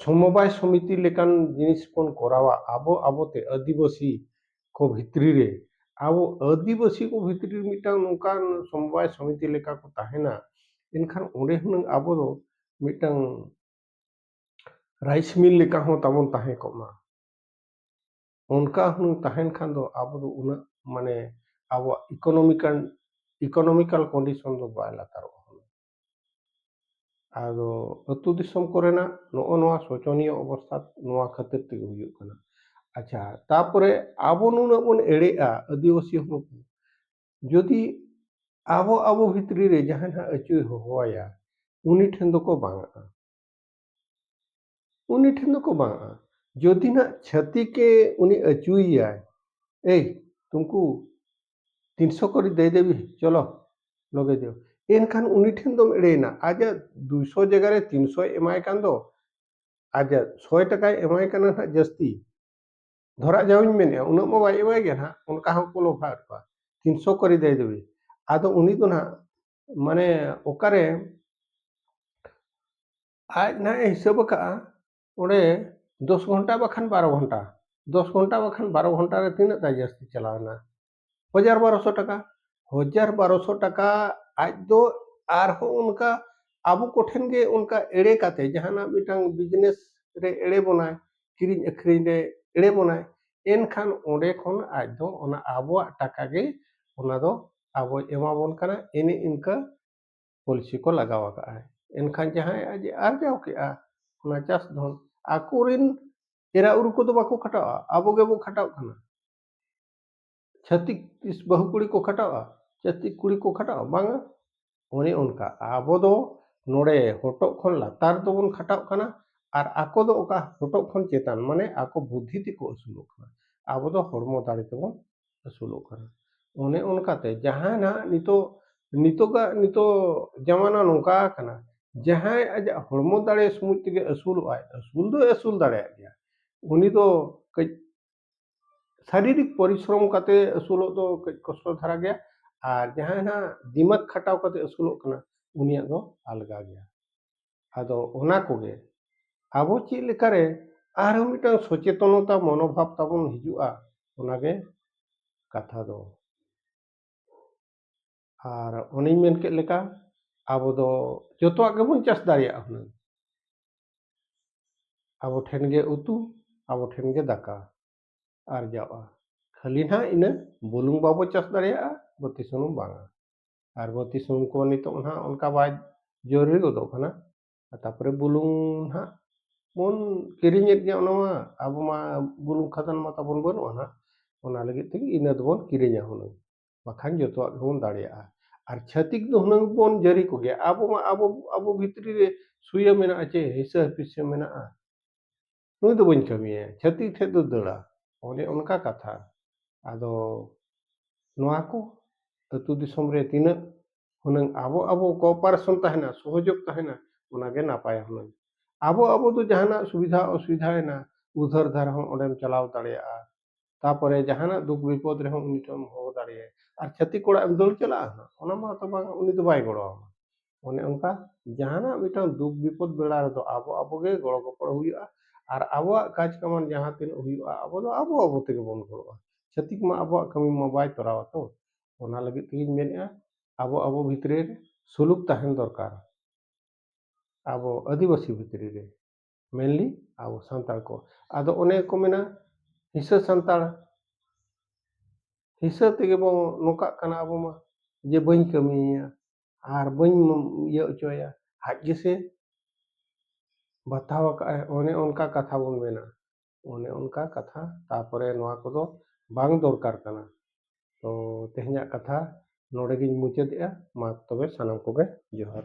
ᱥᱚᱢᱚᱵᱟᱭ ᱥᱚᱢᱤᱛᱤ ᱞᱮᱠᱟᱱ ᱡᱤᱱᱤᱥ ᱵᱚᱱ ᱠᱚᱨᱟᱣᱟ ᱟᱵᱚ ᱟᱵᱚᱛᱮ ᱟᱹᱫᱤᱵᱟᱹᱥᱤ ᱠᱚ ᱵᱷᱤᱛᱨᱤ ᱨᱮ ᱟᱵᱚ ᱟᱹᱫᱤᱵᱟᱹᱥᱤ ᱠᱚ ᱵᱷᱤᱛᱨᱤ ᱨᱮ ᱢᱤᱫᱴᱟᱝ ᱱᱚᱝᱠᱟᱱ ᱥᱚᱢᱚᱵᱟᱭ ᱥᱚᱢᱤᱛᱤ ᱞᱮᱠᱟ ᱠᱚ ᱛᱟᱦᱮᱱᱟ ᱮᱱᱠᱷᱟᱱ ᱚᱸᱰᱮ ᱦᱩᱱᱟᱹᱝ ᱟᱵᱚ ᱫᱚ ᱢᱤᱫᱴᱟᱝ ᱨᱟᱭᱤᱥ ᱢᱤᱞ ᱞᱮᱠᱟ ᱦᱚᱸ ᱛᱟᱵᱚᱱ ᱛᱟᱦᱮᱸ ᱠᱚᱜ ᱢᱟ ᱚᱱᱠᱟ ᱦᱩᱱᱟᱹᱝ ᱛᱟᱦᱮᱱ ᱠᱷᱟᱱ ᱫᱚ ᱟᱵᱚ ᱫᱚ ᱩᱱᱟᱹᱜ ᱢᱟᱱᱮ ᱟᱵᱚᱣᱟᱜ ᱤᱠᱳᱱᱚᱢᱤᱠᱟᱞ ᱤᱠᱳᱱᱚᱢᱤᱠᱟᱞ ᱠᱚᱱᱰᱤᱥᱚᱱ ᱫᱚ ᱵᱟᱭ ᱞᱟᱛᱟᱨᱚᱜᱼᱟ ᱟᱫᱚ ᱟᱹᱛᱩ ᱫᱤᱥᱚᱢ ᱠᱚᱨᱮᱱᱟᱜ ᱱᱚᱜᱼᱚ ᱱᱚᱣᱟ ᱥᱚᱪᱚᱱᱤᱭᱚ ᱚᱵᱚᱥᱛᱟ ᱱᱚᱣᱟ ᱠᱷᱟᱹᱛᱤᱨ ᱛᱮᱜᱮ ᱦᱩᱭᱩᱜ ᱠᱟᱱᱟ ᱟᱪᱪᱷᱟ ᱛᱟᱯᱚᱨᱮ ᱟᱵᱚ ᱱᱩᱱᱟᱹᱜ ᱵᱚᱱ ᱮᱲᱮᱜᱼᱟ ᱟᱹᱫᱤᱵᱟᱹᱥᱤ ᱦᱚᱯᱚᱱ ᱠᱚ ᱡᱩᱫᱤ ᱟᱵᱚ ᱟᱵᱚ ᱵᱷᱤᱛᱨᱤ ᱨᱮ ᱡᱟᱦᱟᱸᱭ ᱦᱟᱸᱜ ᱟᱹᱪᱩᱭ ᱦᱚᱦᱚᱣᱟᱭᱟ ᱩᱱᱤ ᱴᱷᱮᱱ ᱫᱚᱠᱚ ᱵᱟᱝᱟᱜᱼᱟ ᱩᱱᱤ ᱴᱷᱮᱱ ᱫᱚᱠᱚ ᱵᱟᱝᱟᱜᱼᱟ ᱡᱩᱫᱤ ᱱᱟᱜ ᱪᱷᱟᱹᱛᱤᱠᱮ ᱩᱱᱤ ᱟᱹᱪᱩᱭᱮᱭᱟᱭ ᱮᱭ ᱛᱩᱢᱠᱩ ᱛᱤᱱ ᱥᱚ ᱠᱚᱨᱤ ᱫᱮ ᱫᱮᱵᱤ ᱪᱚᱞᱚ ᱞᱚᱜᱮ ᱡᱚ ᱮᱱᱠᱷᱟᱱ ᱩᱱᱤ ᱴᱷᱮᱱ ᱫᱚᱢ ᱮᱲᱮᱭᱮᱱᱟ ᱟᱡᱟᱜ ᱫᱩᱭ ᱥᱚ ᱡᱟᱭᱜᱟ ᱨᱮ ᱛᱤᱱ ᱥᱚᱭ ᱮᱢᱟᱭ ᱠᱟᱱ ᱫᱚ ᱟᱡᱟᱜ ᱥᱚᱭ ᱴᱟᱠᱟᱭ ᱮᱢᱟᱭ ᱠᱟᱱᱟ ᱱᱟᱜ ᱡᱟᱹᱥᱛᱤ ᱫᱷᱚᱨᱟ ᱡᱟᱣᱤᱧ ᱢᱮᱱᱮᱜᱼᱟ ᱩᱱᱟᱹᱜ ᱢᱟ ᱵᱟᱭ ᱮᱢᱟᱭ ᱜᱮᱭᱟ ᱱᱟᱜ ᱚᱱᱠᱟ ᱦᱚᱸᱠᱚ ᱞᱚᱵᱷᱟᱣᱮᱫ ᱠᱚᱣᱟ ᱛᱤᱱ ᱥᱚ ᱠᱚᱨᱤ ᱫᱮ ᱫᱮᱵᱤ ᱟᱫᱚ ᱩᱱᱤ ᱫᱚ ᱱᱟᱜ ᱢᱟᱱᱮ ᱚᱠᱟᱨᱮ ᱟᱡ ᱱᱟᱦᱟᱜ ᱮ ᱦᱤᱥᱟᱹᱵ ᱟᱠᱟᱫᱼᱟ ᱚᱸᱰᱮ ᱫᱚᱥ ᱜᱷᱚᱱᱴᱟ ᱵᱟᱠᱷᱟᱱ ᱵᱟᱨᱚ ᱜᱷᱚᱱᱴᱟ ᱫᱚᱥ ᱜᱷᱚᱱᱴᱟ ᱵᱟᱠᱷᱟᱱ ᱵᱟᱨᱚ ᱜᱷᱚᱱᱴᱟ ᱨᱮ ᱛᱤᱱᱟᱹᱜ ᱛᱟᱭ ᱡᱟᱹᱥᱛᱤ ᱪᱟᱞᱟᱣᱮᱱᱟ ᱦᱟᱡᱟᱨ ᱵᱟᱨᱚᱥᱚ ᱴᱟᱠᱟ ᱦᱟᱡᱟᱨ ᱵᱟᱨᱚᱥᱚ ᱴᱟᱠᱟ ᱟᱡ ᱫᱚ ᱟᱨᱦᱚᱸ ᱚᱱᱠᱟ ᱟᱵᱚ ᱠᱚᱴᱷᱮᱱ ᱜᱮ ᱚᱱᱠᱟ ᱮᱲᱮ ᱠᱟᱛᱮ ᱡᱟᱦᱟᱱᱟᱜ ᱢᱤᱫᱴᱟᱝ ᱵᱤᱡᱽᱱᱮᱥ ᱨᱮ ᱮᱲᱮ ᱵᱚᱱᱟᱭ ᱠᱤᱨᱤᱧ ᱟᱹᱠᱷᱨᱤᱧ ᱨᱮ ᱮᱲᱮ ᱵᱚᱱᱟᱭ ᱮᱱᱠᱷᱟᱱ ᱚᱸᱰᱮ ᱠᱷᱚᱱ ᱟᱡ ᱫᱚ ᱚᱱᱟ ᱟᱵᱚᱣᱟᱜ ᱴᱟᱠᱟ ᱜᱮ ᱚᱱᱟ ᱫᱚ ᱟᱵᱚᱭ ᱮᱢᱟᱵᱚᱱ ᱠᱟᱱᱟ ᱮᱱᱮ ᱤᱱᱠᱟᱹ ᱯᱚᱞᱤᱥᱤ ᱠᱚ ᱞᱟᱜᱟᱣ ᱟᱠᱟᱫᱼᱟᱭ ᱮᱱᱠᱷᱟᱱ ᱡᱟᱦᱟᱸᱭ ᱟᱡ ᱮ ᱟᱨᱡᱟᱣ ᱠᱮᱫᱼᱟ ᱚᱱᱟ ᱪᱟᱥ ᱫᱷᱚᱱ ᱟᱠᱚ ᱨᱮᱱ ᱮᱨᱟ ᱩᱨᱩ ᱠᱚᱫᱚ ᱵᱟᱠᱚ ᱠᱷᱟᱴᱟᱜᱼᱟ ᱟᱵᱚ ᱜᱮᱵᱚ ᱠᱷᱟᱴᱟᱜ ᱠᱟᱱᱟ ᱪᱷᱟᱹᱛᱤᱠ ᱛᱤᱥ ᱵᱟᱹᱦᱩ ᱠᱩᱲᱤ ᱠᱚ ᱠᱷᱟᱴᱟᱜᱼᱟ ᱪᱷᱟᱹᱛᱤᱠ ᱠᱩᱲᱤ ᱠᱚ ᱠᱷᱟᱴᱟᱜᱼᱟ ᱵᱟᱝᱟ ᱚᱱᱮ ᱚᱱᱠᱟ ᱟᱵᱚ ᱫᱚ ᱱᱚᱰᱮ ᱦᱚᱴᱚᱜ ᱠᱷᱚᱱ ᱞᱟᱛᱟᱨ ᱫᱚᱵᱚᱱ ᱠᱷᱟᱴᱟᱜ ᱠᱟᱱᱟ ᱟᱨ ᱟᱠᱚ ᱫᱚ ᱚᱠᱟ ᱦᱚᱴᱚᱜ ᱠᱷᱚᱱ ᱪᱮᱛᱟᱱ ᱢᱟᱱᱮ ᱟᱠᱚ ᱵᱩᱫᱽᱫᱷᱤ ᱛᱮᱠᱚ ᱟᱹᱥᱩᱞᱚᱜ ᱠᱟᱱᱟ ᱟᱵᱚ ᱫᱚ ᱦᱚᱲᱢᱚ ᱫᱟᱲᱮ ᱛᱮᱵᱚᱱ ᱟᱹᱥᱩᱞᱚᱜ ᱠᱟᱱᱟ ᱚᱱᱮ ᱚᱱᱠᱟᱛᱮ ᱡᱟᱦᱟᱸᱭ ᱱᱟᱜ ᱱᱤᱛᱚᱜ ᱱᱤᱛᱚᱜᱟᱜ ᱱᱤᱛᱚᱜ ᱡᱟᱢᱟᱱᱟ ᱱᱚᱝᱠᱟ ᱟᱠᱟᱱᱟ ᱡᱟᱦᱟᱸᱭ ᱟᱡᱟᱜ ᱦᱚᱲᱢᱚ ᱫᱟᱲᱮ ᱥᱩᱢᱩᱝ ᱛᱮᱜᱮ ᱟᱹᱥᱩᱞᱚᱜ ᱟᱭ ᱟᱹᱥᱩᱞ ᱫᱚᱭ ᱟᱹᱥᱩᱞ ᱫᱟᱲᱮᱭᱟᱜ ᱜᱮᱭᱟ ᱩᱱᱤ ᱫᱚ ᱠᱟᱹᱡ ᱥᱟᱨᱤᱨᱤᱠ ᱯᱚᱨᱤᱥᱨᱚᱢ ᱠᱟᱛᱮ ᱟᱹᱥᱩᱞᱚᱜ ᱫᱚ ᱠᱟᱹᱡ ᱠᱚᱥᱴᱚ ᱫᱷᱟᱨᱟ ᱜᱮᱭᱟ ᱟᱨ ᱡᱟᱦᱟᱸᱭ ᱱᱟᱜ ᱫᱤᱢᱟᱜᱽ ᱠᱷᱟᱴᱟᱣ ᱠᱟᱛᱮ ᱟᱹᱥᱩᱞᱚᱜ ᱠᱟᱱᱟ ᱩᱱᱤᱭᱟᱜ ᱫᱚ ᱟᱞᱜᱟ ᱜᱮᱭᱟ ᱟᱫᱚ ᱚᱱᱟ ᱠᱚᱜᱮ ᱟᱵᱚ ᱪᱮᱫ ᱞᱮᱠᱟᱨᱮ ᱟᱨᱦᱚᱸ ᱢᱤᱫᱴᱟᱝ ᱥᱚᱪᱮᱛᱚᱱᱚᱛᱟ ᱢᱚᱱᱳᱵᱷᱟᱵ ᱛᱟᱵᱚᱱ ᱦᱤᱡᱩᱜᱼᱟ ᱚᱱᱟᱜᱮ ᱠᱟᱛᱷᱟ ᱫᱚ ᱟᱨ ᱚᱱᱮᱧ ᱢᱮᱱ ᱠᱮᱫ ᱞᱮᱠᱟ ᱟᱵᱚ ᱫᱚ ᱡᱚᱛᱚᱣᱟᱜ ᱜᱮᱵᱚᱱ ᱪᱟᱥ ᱫᱟᱲᱮᱭᱟᱜᱼᱟ ᱦᱩᱱᱟᱹᱝ ᱟᱵᱚ ᱴᱷᱮᱱ ᱜᱮ ᱩᱛᱩ ᱟᱵᱚ ᱴᱷᱮᱱ ᱜᱮ ᱫᱟᱠᱟ ᱟᱨᱡᱟᱣᱼᱟ ᱠᱷᱟᱹᱞᱤ ᱱᱟᱦᱟᱜ ᱤᱱᱟᱹ ᱵᱩᱞᱩᱝ ᱵᱟᱵᱚ ᱪᱟᱥ ᱫᱟᱲᱮᱭᱟᱜᱼᱟ ᱵᱟᱹᱛᱤ ᱥᱩᱱᱩᱢ ᱵᱟᱝᱟ ᱟᱨ ᱵᱟᱹᱛᱤ ᱥᱩᱱᱩᱢ ᱠᱚ ᱱᱤᱛᱚᱜ ᱱᱟᱦᱟᱜ ᱚᱱᱠᱟ ᱵᱟᱭ ᱡᱚᱨᱩᱨᱤ ᱜᱚᱫᱚᱜ ᱠᱟᱱᱟ ᱛᱟᱯᱚᱨᱮ ᱵᱩᱞᱩᱝ ᱱᱟᱦᱟᱜ ᱵᱚᱱ ᱠᱤᱨᱤᱧᱮᱫ ᱜᱮᱭᱟ ᱚᱱᱟ ᱢᱟ ᱟᱵᱚ ᱢᱟ ᱵᱩᱞᱩᱝ ᱠᱷᱟᱫᱟᱱ ᱢᱟ ᱛᱟᱵᱚᱱ ᱵᱟᱹᱱᱩᱜᱼᱟ ᱱᱟᱦᱟᱜ ᱚᱱᱟ ᱞᱟᱹᱜᱤᱫ ᱛᱮᱜᱮ ᱤᱱᱟᱹ ᱫᱚᱵᱚᱱ ᱠᱤᱨᱤᱧᱟ ᱦᱩᱱᱟᱹᱝ ᱵᱟᱠᱷᱟᱱ ᱡᱚᱛᱚᱣᱟᱜ ᱜᱮᱵᱚᱱ ᱫᱟᱲᱮᱭᱟᱜᱼᱟ ᱟᱨ ᱪᱷᱟᱹᱛᱤᱠ ᱫᱚ ᱦᱩᱱᱟᱹᱝ ᱵᱚᱱ ᱡᱟᱹᱨᱤ ᱠᱚᱜᱮᱭᱟ ᱟᱵᱚ ᱢᱟ ᱟᱵᱚ ᱟᱵᱚ ᱵᱷᱤᱛᱨᱤ ᱨᱮ ᱥᱩᱭᱟᱹ ᱢᱮᱱᱟᱜᱼᱟ ᱪᱮ ᱦᱤᱥᱟᱹ ᱦᱤᱯᱤᱥᱟᱹ ᱢᱮᱱᱟᱜᱼᱟ ᱱᱩᱭ ᱫᱚ ᱵᱟᱹᱧ ᱠᱟᱹᱢᱤᱭᱟ ᱪᱷᱟᱹᱛᱤᱠ ᱴᱷᱮᱡ ᱫᱚ ᱫᱟᱹᱲᱟ ᱚᱱᱮ ᱚᱱᱠᱟ ᱠᱟᱛᱷᱟ ᱟᱫᱚ ᱱᱚᱣᱟ ᱠᱚ ᱟᱹᱛᱩ ᱫᱤᱥᱚᱢ ᱨᱮ ᱛᱤᱱᱟᱹᱜ ᱦᱩᱱᱟᱹᱝ ᱟᱵᱚ ᱟᱵᱚ ᱠᱳᱯᱟᱨᱮᱥᱚᱱ ᱛᱟᱦᱮᱱᱟ ᱥᱚᱦᱚᱡᱳᱜᱽ ᱛᱟᱦᱮᱱᱟ ᱚᱱᱟ ᱜᱮ ᱱᱟᱯᱟᱭᱟ ᱦᱩᱱᱟᱹᱝ ᱟᱵᱚ ᱟᱵᱚ ᱫᱚ ᱡᱟᱦᱟᱱᱟᱜ ᱥᱩᱵᱤᱫᱷᱟ ᱚᱥᱩᱵᱤᱫᱷᱟᱭᱮᱱᱟ ᱩᱫᱷᱟᱹᱨ ᱫᱷᱟᱨ ᱦᱚᱸ ᱚᱸᱰᱮᱢ ᱪᱟᱞᱟᱣ ᱫᱟᱲᱮᱭᱟᱜᱼᱟ ᱛᱟᱯᱚᱨᱮ ᱡᱟᱦᱟᱱᱟᱜ ᱫᱩᱠ ᱵᱤᱯᱚᱫ ᱨᱮᱦᱚᱸ ᱩᱱᱤ ᱴᱷᱮᱱᱮᱢ ᱦᱚᱦᱚ ᱫᱟᱲᱮᱭᱟᱭᱟ ᱟᱨ ᱪᱷᱟᱹᱛᱤᱠ ᱚᱲᱟᱜ ᱮᱢ ᱫᱟᱹᱲ ᱪᱟᱞᱟᱜᱼᱟ ᱦᱟᱸᱜ ᱚᱱᱟ ᱢᱟᱛᱚ ᱵᱟᱝ ᱩᱱᱤ ᱫᱚ ᱵᱟᱭ ᱜᱚᱲᱚ ᱟᱢᱟ ᱚᱱᱮ ᱚᱱᱠᱟ ᱡᱟᱦᱟᱱᱟᱜ ᱢᱤᱫᱴᱟᱝ ᱫᱩᱠ ᱵᱤᱯᱚᱫ ᱵᱮᱲᱟ ᱨᱮᱫᱚ ᱟᱵᱚ ᱟᱵᱚ ᱜᱮ ᱜᱚᱲᱚ ᱜᱚᱯᱚᱲᱚ ᱦᱩᱭᱩᱜᱼᱟ ᱟᱨ ᱟᱵᱚᱣᱟᱜ ᱠᱟᱡᱽ ᱠᱟᱢᱟᱱ ᱡᱟᱦᱟᱸ ᱛᱤᱱᱟᱹᱜ ᱦᱩᱭᱩᱜᱼᱟ ᱟᱵᱚ ᱫᱚ ᱟᱵᱚ ᱟᱵᱚ ᱛᱮᱜᱮ ᱵᱚᱱ ᱜᱚᱲᱚᱜᱼᱟ ᱪᱷᱟᱹᱛᱤᱠ ᱢᱟ ᱟᱵᱚᱣᱟᱜ ᱠᱟᱹᱢᱤ ᱢᱟ ᱵᱟᱭ ᱛᱚᱨᱟᱣᱟ ᱛᱚ ᱚᱱᱟ ᱞᱟᱹᱜᱤᱫ ᱛᱮᱜᱮᱧ ᱢᱮᱱᱮᱫᱼᱟ ᱟᱵᱚ ᱟᱵᱚ ᱵᱷᱤᱛᱨᱤ ᱨᱮ ᱥᱩᱞᱩᱠ ᱛᱟᱦᱮᱱ ᱫᱚᱨᱠᱟᱨ ᱟᱵᱚ ᱟᱹᱫᱤᱵᱟᱹᱥᱤ ᱵᱷᱤᱛᱨᱤ ᱨᱮ ᱢᱮᱱᱞᱤ ᱟᱵᱚ ᱥᱟᱱᱛᱟᱲ ᱠᱚ ᱟᱫᱚ ᱚᱱᱮ ᱠᱚ ᱢᱮᱱᱟ ᱦᱤᱥᱟᱹ ᱥᱟᱱᱛᱟᱲ ᱦᱤᱥᱟᱹ ᱛᱮᱜᱮ ᱵᱚᱱ ᱱᱚᱝᱠᱟᱜ ᱠᱟᱱᱟ ᱟᱵᱚ ᱢᱟ ᱡᱮ ᱵᱟᱹᱧ ᱠᱟᱹᱢᱤᱭᱟ ᱟᱨ ᱵᱟᱹᱧ ᱤᱭᱟᱹ ᱚᱪᱚᱭᱟ ᱟᱡ ᱜᱮᱥᱮ ᱵᱟᱛᱟᱣ ᱟᱠᱟᱫ ᱟᱭ ᱚᱱᱮ ᱚᱱᱠᱟ ᱠᱟᱛᱷᱟ ᱵᱚᱱ ᱢᱮᱱᱟ ᱚᱱᱮ ᱚᱱᱠᱟ ᱠᱟᱛᱷᱟ ᱛᱟᱯᱚᱨᱮ ᱱᱚᱣᱟ ᱠᱚᱫᱚ ᱵᱟᱝ ᱫᱚᱨᱠᱟᱨ ᱠᱟᱱᱟ ᱛᱚ ᱛᱮᱦᱮᱧᱟᱜ ᱠᱟᱛᱷᱟ ᱱᱚᱰᱮ ᱜᱤᱧ ᱢᱩᱪᱟᱹᱫᱮᱜᱼᱟ ᱢᱟ ᱛᱚᱵᱮ ᱥᱟᱱᱟᱢ ᱠᱚᱜᱮ ᱡᱚᱦᱟᱨ